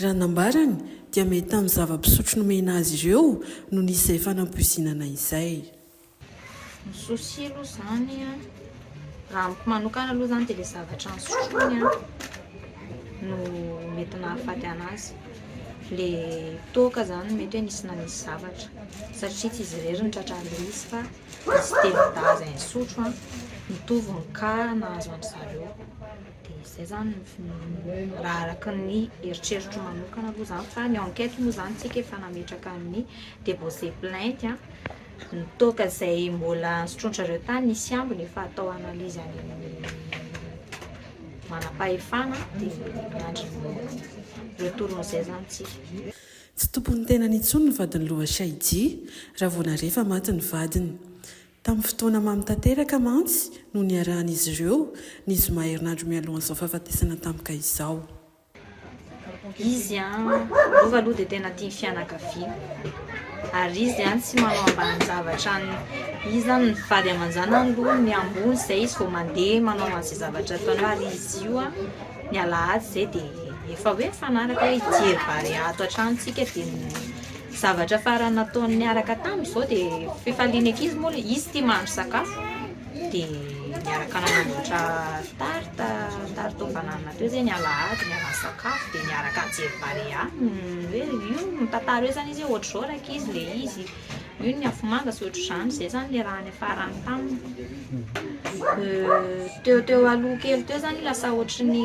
Raha nambarany dia mety tamin'ny zava-pisotro nomena azy ireo no nisy izay fanampoizinana izay. Ny souci aloha izany an, raha amiko manokana aloha izany dia ilay zavatra nosotroiny an no mety nahafaty anazy. Ilay toaka izany mety hoe nisy nanisy zavatra satria tsy izy irery no tratra an'ilay izy fa nisy telodahy izay nisotro an, mitovy ny cas nahazo an-dry zareo. Dia izay izany raha araka ny eritreritro manokana aloha izany fa ny enquête moa izany isika efa nametraka ny déposer plainte a, ny toaka izay mbola sotroin-dry zareo tany nisy ambiny efa atao analyse any amin'ny manam-pahefana dia miandry ny retourn'izay izany isika. Tsy tompon'ny tenany intsony ny vadin'i Loha Shahidi raha vao nare fa maty ny vadiny. Tamin'ny fotoana mamy tanteraka mantsy no niarahan'izy ireo, ny zoma herinandro mialohan'izao fahafatesana tampoka izao. Izy Rova aloha dia tena tia ny fianakaviana ary izy tsy manao ambanin-javatra ny izy izany ny vady aman-janany aloha ny ambony izay izy vao mandeha manao an'izay zavatra ataony ary izy io ny alahady izay dia efa hoe mifanaraka hoe hijery vary ato hatrany isika dia Zavatra farany nataony niaraka taminy izao dia fifalian'ny ankizy moa ilay izy tia mahandro sakafo dia niaraka nanamboatra tarte, tarte aux bananes teo izay ny alahady niaraha nisakafo dia niaraka nijery barea hoe io mitantara hoe izany izy hoe ohatr'izao rankizy ilay izy io ny afomanga sy ohatr'izany, izay izany ny raha niafarany taminy dia teo teo aloha kely teo izany lasa ohatry ny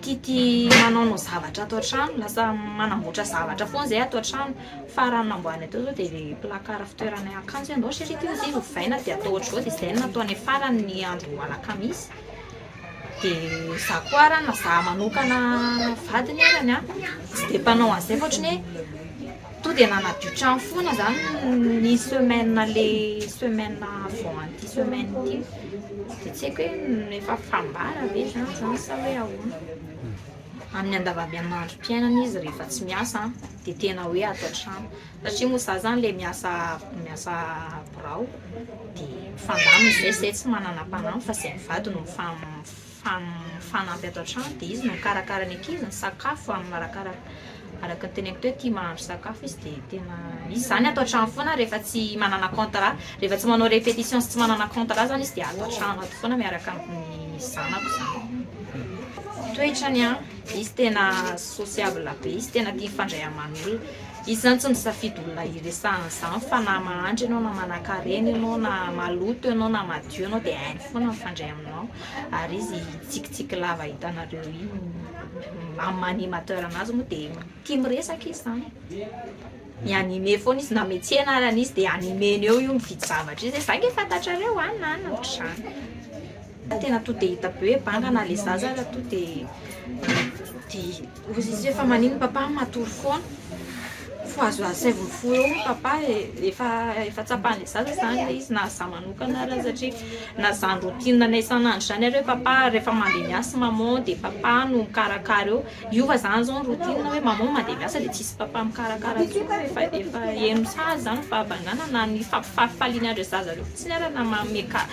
Tity manaonao zavatra ato an-trano, lasa manamboatra zavatra foana izay ato an-trano, fa raha ny namboariny hatao izao dia ilay placard fitoerana ilay akanjo hoe andao chérie ity izy ovaina dia atao ohatr'izao dia izay no natao any farany ny andron'ny alakamisy, dia za koa ary na za manokana vadiny arany an, tsy dia mpanao an'izay fa ohatran'ny hoe. To dia nanadio trano foana zany ny semaine le semaine avant an'ity semaine ity de tsy haiko hoe efa fambara ve zany zany sa hoe ahoana amin'ny andavambian'androm-piainana izy rehefa tsy miasa an de tena hoe ato an-trano satria moa za zany le miasa miasa birao de mifandamina zay zay tsy manana mpanampy fa zay mivady no mifam- fa amin'ny fanampy ato an-trano dia izy no mikarakara ny ankizy, ny sakafo amin'ny marakaraka. Araka ny teneniko teo, tia mahandro sakafo izy dia tena izy izany ato an-trano foana rehefa tsy manana contrat, rehefa tsy manao répétition sy tsy manana contrat izany izy dia ato an-trano ato foana miaraka amin'ny zanako izany. Toetrany an, izy tena sociable be, izy tena tia mifandray aman'olona. Izy izany tsy misafidy olona hiresahana izany fa na mahantra ianao na manankarena ianao na maloto ianao na madio ianao dia hainy foana mifandray aminao. ary izy tsikitsiky lava hitanareo iny amin'ny maha animateur anazy moa dia tia miresaka izy zany mi anime foana izy na metsy anarana izy dia animeny eo io mividy zavatra izy zay nge fantatrareo an na na ohatr'izany tena to dia hita be hoe banga na le zaza ary to dia dia Ry Zizi fa manino papa matory foana fo azo asaivo fo eo ny papa e efa efa tsapan'ny zaza zany le izy na za manokana ary satria na zany routine anay isan'andro zany ary hoe papa rehefa mandeha miasa maman de papa no mikarakara eo hiova zany zao ny routine hoe maman mandeha miasa de tsisy papa mikarakara intsony hoe efa efa heno sazy zany fahavanganana na ny fampifalifaliana andry zaza reo fotsiny ary na manome ka-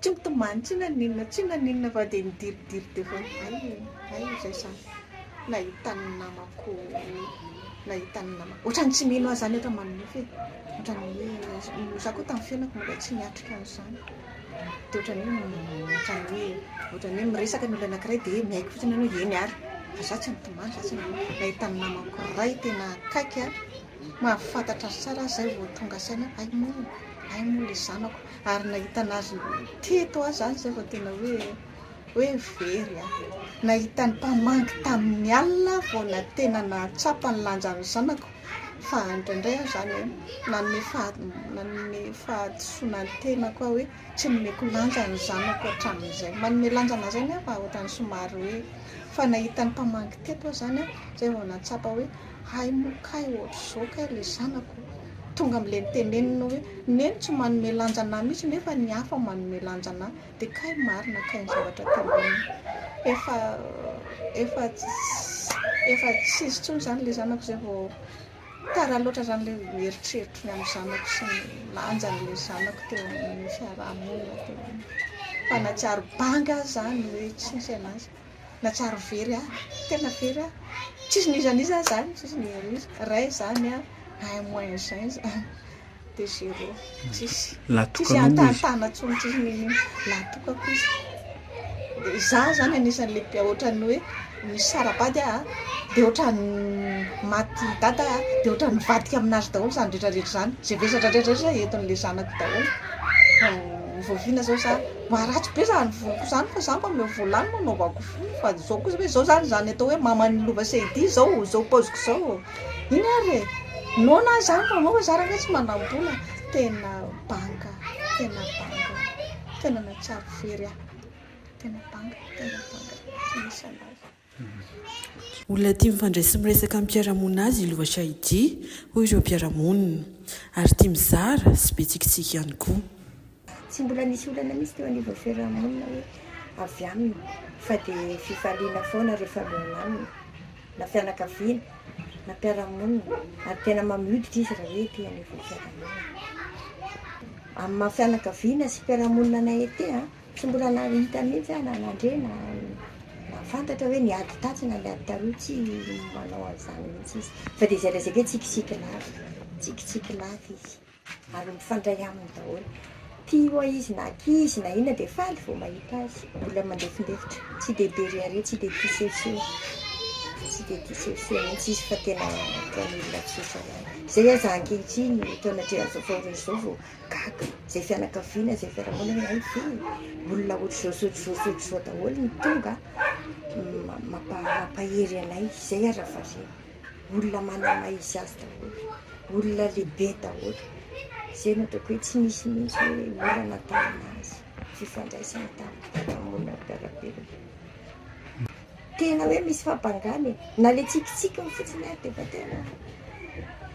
Tsy mitomany tsy na n'inona tsy na n'inona fa dia midiridiry teo foana, hay e, hay e, zay zany nahita ny namako, nahita ny namako, ohatran'ny tsy mino azy zany aho raha manonofy e, ohatran'ny hoe, za koa tamin'ny fiainako mbola tsy niatrika an'izany, dia ohatran'ny hoe, ohatran'ny hoe, ohatran'ny hoe miresaka ny olona anakiray dia hoe miaiky fotsiny ianao hoe eny ary, fa za tsy mitomany za tsy nanonofy, nahita ny namako iray tena akaiky aho. Mahafantatra azy tsara aho izay vao tonga saina hoe hay moa, hay moa ilay zanako. Ary nahita an'azy teto aho izany izay vao tena hoe hoe very aho. Nahita ny mpamangy tamin'ny alina aho vao na- tena nahatsapa ny lanjan'ny zanako. Fa indraindray aho izany hoe nanome faha- nanome fahadisoana ny tenako aho hoe tsy nomeko lanja ny zanako hatramin'izay. Manome lanja an'azy anefa ohatran'ny somary hoe, fa nahita ny mpamangy teto aho izany izay vao nahatsapa hoe. Hay moa kay ohatr'izao kay ilay zanako tonga amin'ilay nitenenina hoe neny tsy manome lanja anah mihitsy nefa ny hafa manome lanja anah dia kay marina kay ny zavatra teneniny. Efa efa efa tsy izy intsony izany ilay zanako izay vao tara loatra izany ilay eritreritro ny amin'ny zanako sy ny lanjan'ilay zanako teo amin'ny fiarahamonina teo. Fa na tsy ary banga aza izany hoe tsy nisy an'azy. nahatsiaro very ahy, tena very aho, tsisy n'iza n'iza aho zany, tsisy n'iza n'iza, ray zany an, un moins un zany de zero, tsisy, tsisy hahantahatahana intsony, tsisy n'inon'inona, lahatokako izy, de za zany anisan'le be ohatran'ny hoe misy sarabady aho de ohatran'ny maty dada aho de ohatran'ny mivadika aminazy daholo zany retraretra zany, ze vesatra retraretra entin'le zanako daholo, vao oviana zao za. Mba ratsy be zany voloko zany fa za mba omeo vola any mba anaovako fohy fa zao kosa hoe zao zany zany atao hoe maman'ny lova sahidi zao zao paoziko zao iny ary e noana aho zany fa anao fa za rangahy tsy manam-bola tena banga tena banga tena nahatsiaro very aho tena banga tena banga tsy misy anazy Olona tia mifandray sy miresaka amin'ny mpiara-monina azy i Lova Shahidi, hoy ireo mpiara-monina, ary tia mizara sy be tsikitsiky ihany koa. Tsy mbola nisy olana mihitsy teo anivon'ny fiarahamonina hoe avy aminy fa dia fifaliana foana ireo mifanohana aminy na fianakaviana na mpiara-monina ary tena mamy hoditra izy raha hoe ety anivon'ny fiarahamonina. Amin'ny maha fianakaviana sy mpiara-monina anay ety an! Tsy mbola nahita mihitsy aho na nandre na nahafantatra hoe ny ady tatsy na ny ady taroa tsy manao an'izany mihitsy izy fa dia izay lazaiko hoe tsikitsiky lava tsikitsiky lava izy ary mifandray aminy daholo tia ho'a izy na akia izy na inona dia faly vao mahita azy mbola mandefindefitra tsy dia be rehareha tsy dia tia sehoseho tsy dia tia sehoseho mihitsy izy fa tena toa an'olona tsotra ihany izay aza ankehitriny ny taona atrehan'izao faorin'izao vao gaga izay fianakaviana izay fiarahamonina hoe hay ve e, olona ohatr'izao sy ohatr'izao sy ohatr'izao daholo no tonga mampahery anay, izay ary variana, olona manana maha izy azy daholo, olona lehibe daholo, izay no ataoko hoe tsy nisy mihintsy hoe olana tamin'azy, fifandraisana tamin'ny fiarahamonina mpiara-belona. Tena hoe misy fampangana e! Na le tsikitsikiny fotsiny ary defa tena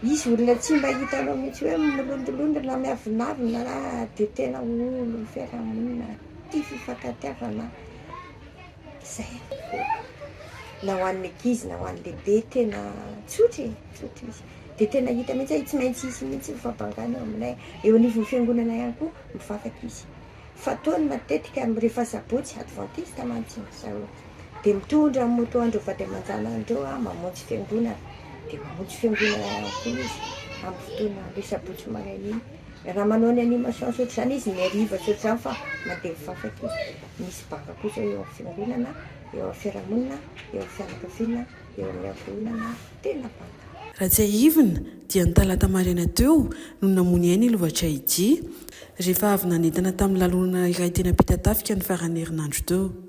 izy olona tsy mba hitanao mihitsy hoe milondolondy na miavonavona ra de tena olon'ny fiarahamonina tia fifankatiavana zay na ho an'ny ankizy na ho an'ny lehibe tena tsotra e tsotra izy de tena hita mihitsy hoe tsy maintsy hisy mihitsy ny fampangana eo aminay eo anivon'ny fiangonana ihany koa mivavaka izy fa toa ny matetika am rehefa sabotsy advantista mantsy ny zareo de mitondra ny moto andreo vady aman-janany reo a mamonjy fiangonana de mamonjy fiangonana ihany koa izy am fotoana le sabotsy maraina iny raha manao ny animation ohatr'izany izy ny hariva tsy ohatr'izany fa mandeha mivavaka izy misy banga kosa eo am fiangonana eo am fiarahamonina eo am fianakaviana eo amin'ny ankohonana tena banga. Raha tsiahivina dia ny talata maraina teo no namonia aina i Lovachaidji, rehefa avy nanentana tamin'ny lalonana iray teny Ampitatafika ny faran'ny herinandro teo.